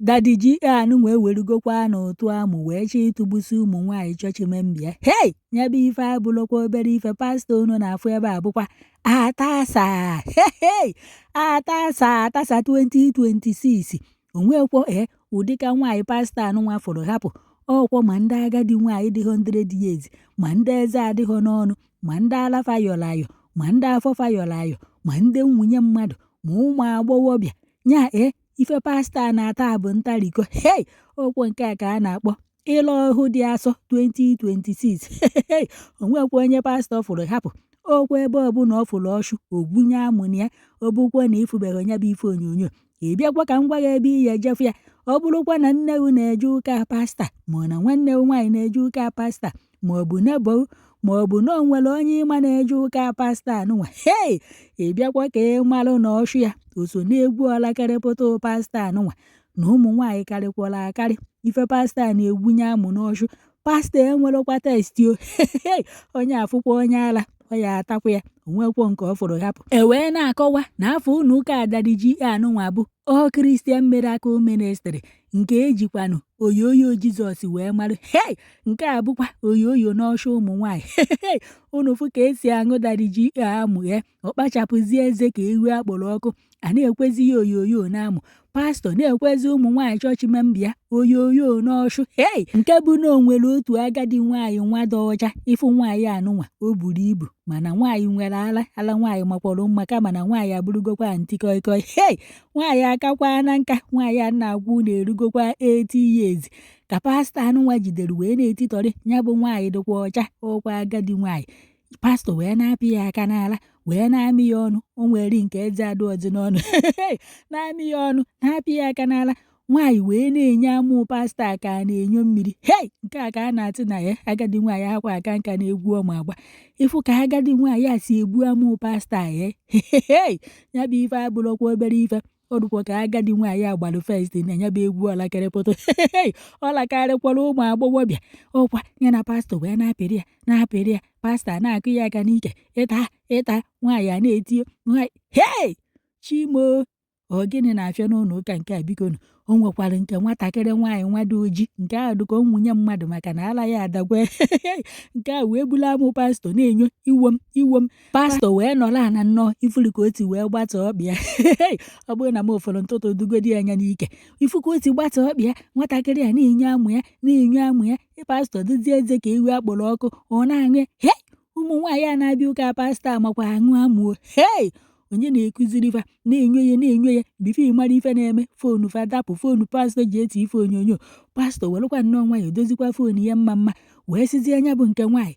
Daddy G anụnwa ewerugokwa n'ụtụ amụ wee chọọ ịtụgbusi ụmụ nwaanyị chọọchị member. Hei! Ya bụ ife abụrọkwa obere ife pastọ unu na-afụ ebe a bụkwa atasa hei atasa atasa 2026 o nwekwọ ee ụdịka nwaanyị pastọ anụnwa fụrụ hapụ ọkwa ma ndị agadi nwaanyị dị 100 years ma ndị eze adịghọ n'ọnụ ma ndị ala fa yọrọ ayọ ma ndị afọ fa yọrọ ayọ ma ndị nwunye mmadụ ma ụmụ agbọghọbịa ya ee ife pastọ a na-ata a bụ ntariko hei okwu nke a ka a na-akpọ ịla ọhụ dị asọ 2026 o nwekwọ onye pastọ a fụrụ hapụ ọkwa ebe ọbụla ọ fụrụ ọchụ o gwunye amụ na ya ọ bụkwa na ị fụbeghị ya bụ ife onyonyo ị bịakwa ka m gwa gị ebe ị ya-eje fụ ya ọ bụrụkwa na nne gị na-eje ụka pastọ a ma ọ na nwanne gị nwaanyị na-eje ụka pastọ a ma ọ bụ neighbour ma ọ bụ na o nwere onye ị ma na-eje ụka pastọ anụnwa hei ị bịakwa ka ị malụ na ọchụ ya o so n'egwu ọlakarịpụta pastọ anụnwa na ụmụ nwaanyị karịkwara akarị ife pastọ a na-egwunye amụ n'ọchụ pastọ enwerọkwa taste o hei onye afụkwa onye ala ọ ya-atakwa ya o nwekwọ nke ọ fụrụ hapụ e wee na-akọwa na afa ụnọ ụka Daddy G anụnwa bụ All Christian Miracle Ministry nke e jikwanụ oyoyo jizọs wee mara hei nke a bụkwa oyoyo n'ọshụ ụmụ nwaanyị hei unu fụ ka e si aṅụ Daddy G amụ ya ọ kpachapụzie eze ka ewu a kpọrọ ọkụ a na-ekwezi ya oyoyo n'amụ pastọ na-ekwezi ụmụ nwaanyị chọọchị member oyoyo n'ọchụ hei nke bụ na o nwere otu agadi nwaanyị nwa dị ọcha ị fụ nwaanyị anụnwa o buru ibu mana nwaanyị nwere ala ala nwaanyị makwọrọ mma kama na nwaanyị abụrụgokwa ntikọịkọị hei nwaanyị akakwaana nka nwaanyị a na-agwa unu erugokwa 80 years ka pastọ anụnwa jidere wee na-etitọrị ya bụ nwaanyị dịkwa ọcha ọkwa agadi nwaanyị pastọ wee na-apị ya aka n'ala wee na-amị ya ọnụ o nwere nke eze adịghọzi n'ọnụ na-amị ya ọnụ na-apị ya aka n'ala Nwaanyị wee na-enyo amụ pastọ a ka a na-enyo mmiri hei nke a ka a na-asị na ya agadi nwaanyị ahakwa aka nka n'egwu ọ ma agba ị fụ ka agadi nwaanyị a si egbu amụ pastọ a ya hei ya bụ ife abụrọkwa obere ife ọ dụkwa ka agadi nwaanyị a gbalụ first na ya bụ egwu ọlakarịpụta hei ọlakarịkwara ụmụ agbọghọbịa ọkwa ya na pastọ wee na-apịrị ya na-apịrị ya pastọ na-akụ ya aka n'ike ịta ịta nwaanyị a na-eti nwaanyị hei chi m o ọ gịnị na-afịa n'ụnọ ụka nke a bikonu o nwekwara nke nwatakịrị nwaanyị nwa dị oji nke ahụ dịka nwunye mmadụ maka na ala ya adagwo nke a wee bulu amụ pastọ na-enyo iwe m iwe m pastọ wee nọrọ ana nnọọ ị fụrụ ka oti wee gbata ọkpịa ọ bụrụ na m ụfọdụ ntụtụ dugodi anya n'ike ị fụ ka oti gbata ọkpịa nwatakịrị a na-enyo amụ ya na-enyo amụ ya pastọ tịzie eze ka ewu a kpọrọ ọkụ ọ na-aṅụ he ụmụ nwaanyị a na-abịa ụka pastọ amakwa aṅụ amụ o hei onye na-ekuziri fa na-enyo ya na-enyo ya before ị mara ife na-eme foonu fa dapụ foonu pastọ ji eti ife onyonyo pastọ werekwa nnọọ nwayọ dozikwa foonu ya mma mma wee sizie nya bụ nke nwaanyị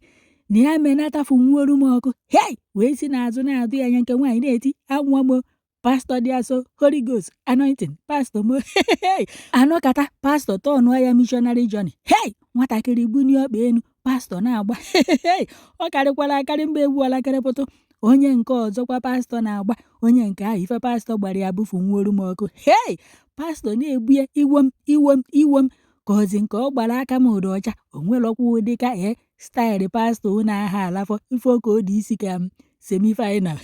na ya menatafu nwuoru m ọkụ hei wee si n'azụ na-adụ ya nya nke nwaanyị na-eti anwụọ m pastọ dị asọ holy ghost anointed pastọ mo anọkata pastọ tọnụọ ya missionary journey hey nwatakịrị bunye ọkpa enu pastọ na-agba hey ọ karịkwara akarị mgbe egwu ọlakịrịpụtụ onye nke ọzọkwa pastọ na-agba onye nke ahụ ife pastọ gbara ya bụfu nwuoru m ọkụ hey pastọ na-ebu ya iwe m iwe m iwe m kezi nke ọ gbara aka m dị ọcha o nwerekwa ụdị ka ee style pastọ unu aha alafọ ife ka o dị isi ka m semi final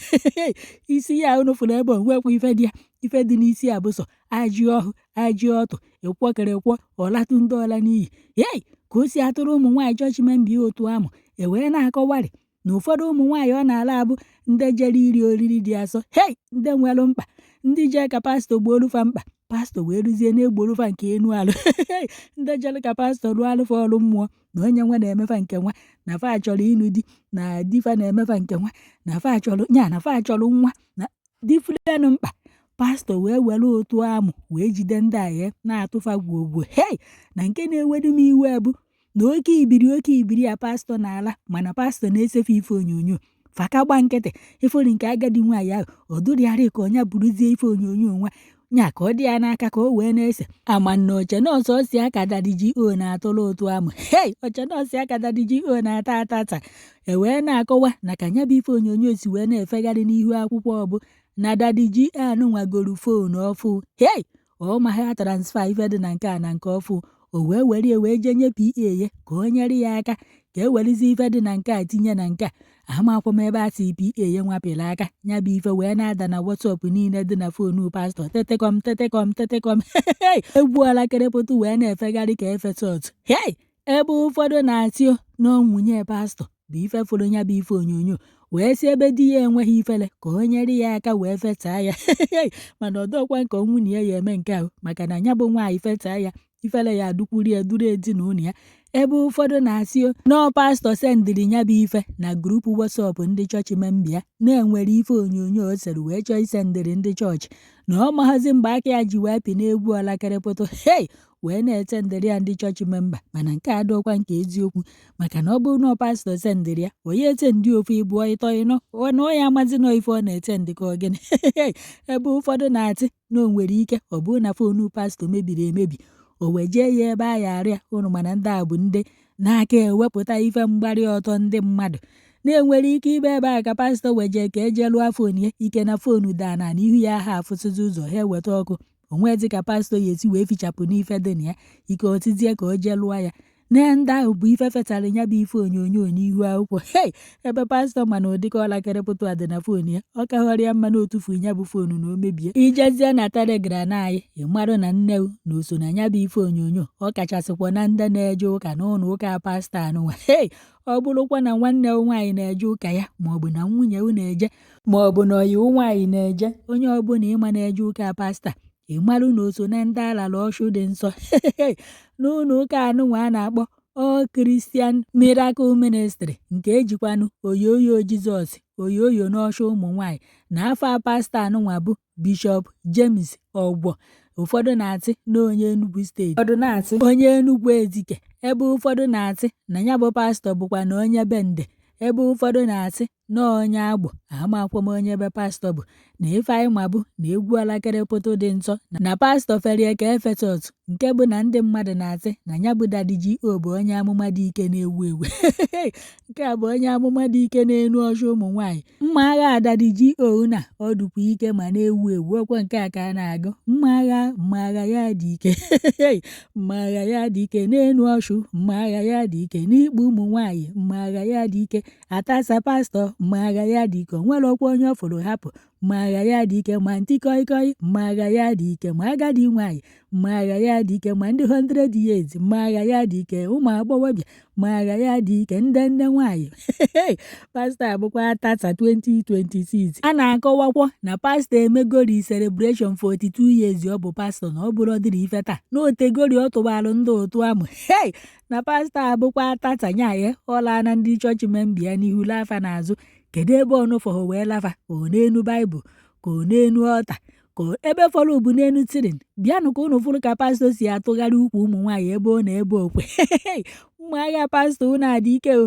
isi ya unu fụrụ ebe o nwekwa ife dị ya ife dị n'isi ya bụ sọ ajị ọhụ ajị ọtụ ịkwọkere kwọ ọlatụ ndị ọla n'iyi yei ka o si atụrụ ụmụ nwaanyị judgment by utu amụ e wee na-akọwarị na ụfọdụ ụmụ nwaanyị ọ na-ala abụ ndị jere iri oriri dị asọ hei ndị nwere mkpa ndị jee ka pastọ gboolu fa mkpa pastọ wee ruzie na-egbolu fa nke enu arụ ndị jere ka pastọ rụọlụ fa ọrụ mmụọ na onye nwa na-eme fa nke nwa na fa chọrọ ịnụ di na di fa na-eme fa nke nwa na fa chọrọ ya na fa chọrọ nwa na different mkpa pastọ wee were utu amụ wee jide ndị ahịa na-atụ fa gwogwo hei na nke na-ewedu m iwe bụ na oke ibiri oke ibiri a pastọ na-ala mana pastọ na-esefu ife onyonyo fa ka gba nkịtị ị fụrọ nke agadi nwaanyị ahụ o dụrịgharị ka onye buruzie ife onyonyo nwa nya ka ọ dị ya n'aka ka o wee na-ese ama na ochie nọọsụ a ka dadi GO na-atụrụ utu amụ hei ochie nọọsụ a ka dadi GO na-ata ata ata e wee na-akọwa na ka nya bụ ife onyonyo si wee na-efegharị n'ihu akwụkwọ bụ na dadi GO nwa goro fon ọfụụ hei ọ maghị a transfer ife dị na nke a na nke ọfụụ o wee were ya wee jee nye PA ya ka o nyere ya aka ka e werezi ife dị na nke a tinye na nke a amakwa m ebe a si PA ya nwa pịrị aka ya bụ ife wee na-ada na WhatsApp niile dị na fonu pastọ tetekọm tetekọm tetekọm egwu ọlakịrịpụtụ wee na-efegharị ka efesọt hei ebe ụfọdụ na-asị na ọ nwunye pastọ bụ ife fụrụ ya bụ ife onyonyo wee sị ebe di ya enweghị ifere ka o nyere ya aka wee fetaa ya mana ọ dọkwa nke nwunye ya ya-eme nke ahụ maka na ya bụ nwaanyị fetaa ya ifere ya adịkwụrụ ya dịrị ezinụlọ ya ebe ụfọdụ na-asị na ọ pastọ sendịrị ya bụ ife na group WhatsApp ndị chọọchị member ya na o nwere ife onyonyo o sere wee chọọ isendịrị ndị chọọchị na ọ maghazi mgbe aka ya ji wee pịa n'egwu ọlakịrịpụtụ hei wee na-esendịrị ya ndị chọọchị memba mana nke a adịọkwa ka eziokwu maka na ọ bụrụ na pastọ sendịrị ya onye esendị ofu ịbụọ ịtọ ịnọ na ọ ya amazi nọ ife ọ na-esendị ka ogene ebe ụfọdụ na-asị na o nwere ike ọ bụrụ na fonu pastọ mebiri emebi o wejee ya ebe a ya alụ ya ọlụ mana ndị a bụ ndị na-aka ewepụta ife mgbarị ọtọ ndị mmadụ na e nwere ike ịbụ ebe a ka pastọ wee jee ka e je lụọ fon ya ike na fonu daa na n'ihu ya ha afụsịzi ụzọ ha eweta ọkụ o nwezi ka pastọ ya esi wee fichapụ n'ife dị na ya ike otizie ka o jee lụọ ya na ndị ahụ bụ ife wetara ya bụ ife onyonyo n'ihu akwụkwọ hei ebe pastọ mana ụdịka ọlakịrị pụtụ adị na fon ya ọ kahọrọ ya mma na o tufuo ya bụ fonu na o mebie i jezie na telegram na anyị ịmarụ na nne na o so na ya bụ ife onyonyo ọ kachasịkwa na ndị na-eje ụka n'ụlọ ụka pastọ anụnwa hei ọ bụrụkwa na nwanne nwaanyị na-eje ụka ya maọbụ na nwunye na-eje ma ọ bụ na ọyị nwaanyị na-eje onye ọbụla ị ma na-eje ụka pasta ịmalụ na o so na ndị a lala ọchụ dị nsọ n'ụlọ ụka anụnwa a na-akpọ All Christian Miracle Ministry nke e jikwanụ oyoyo Jizọs oyoyo n'ọchụ ụmụ nwaanyị na afa pasta anụnwa bụ Bishọp James Ogbo ụfọdụ na-asị na onye Enugu steeti ụfọdụ na-asị onye Enugu Ezike ebe ụfọdụ na-asị na ya bụ pastọ bụkwa na onye Bende ebe ụfọdụ na-asị na onye Agbọ amakwọ m onye ebe pastọ bụ na ife anyị ma bụ na egwu alakere pụtụ dị nsọ na pastọ ferie ka Efesọs nke bụ na ndị mmadụ na-asị na ya bụ dadi G.O bụ onye amụma dị ike na-ewu ewu nke a bụ onye amụma dị ike n'enu ọchụ ụmụ nwaanyị mma agha dadi G.O na ọ dụkwa ike ma na-ewu ewu ọkwa nke a ka a na-agụ mma agha mma agha ya dị ike mma agha ya dị ike n'enu ọchụ mma agha ya dị ike n'ikpu ụmụ nwaanyị mma agha ya dị ike atasa pastọ mma agha ya dị ike nwerọkwa onye ọ fụrụ hapụ mma agha ya dị ike ma antị kọị kọị mma agha ya dị ike ma agadi nwaanyị mma agha ya dị ike ma ndị 100 years mma agha ya dị ike ụmụ agbọghọbịa mma agha ya dị ike ndị nne nwaanyị pastọ abụkwa atasa 2026 a na-akọwakwa na pastọ emegori celebration 42 years ọ bụ pastọ na ọ bụrọdịrị ife taa na o tegori ọ tụbara ndị otu amụ hei na pastọ abụkwa atatanyaye ọ lana ndị chọọchị memba ya n'ihu laa fa n'azụ kedu ebe ọnụfọhụ wee laa fa ka ọ n'enu baịbụl ka ọ n'enu ọlta ka ebe fọrọ bụ n'enu ceiling bịanụ ka ụnụ fụrụ ka pastọ si atụgharị ukwu ụmụ nwaanyị ebe ọ na ebe okwe ụmụagha pastọ ụnụ adị ike o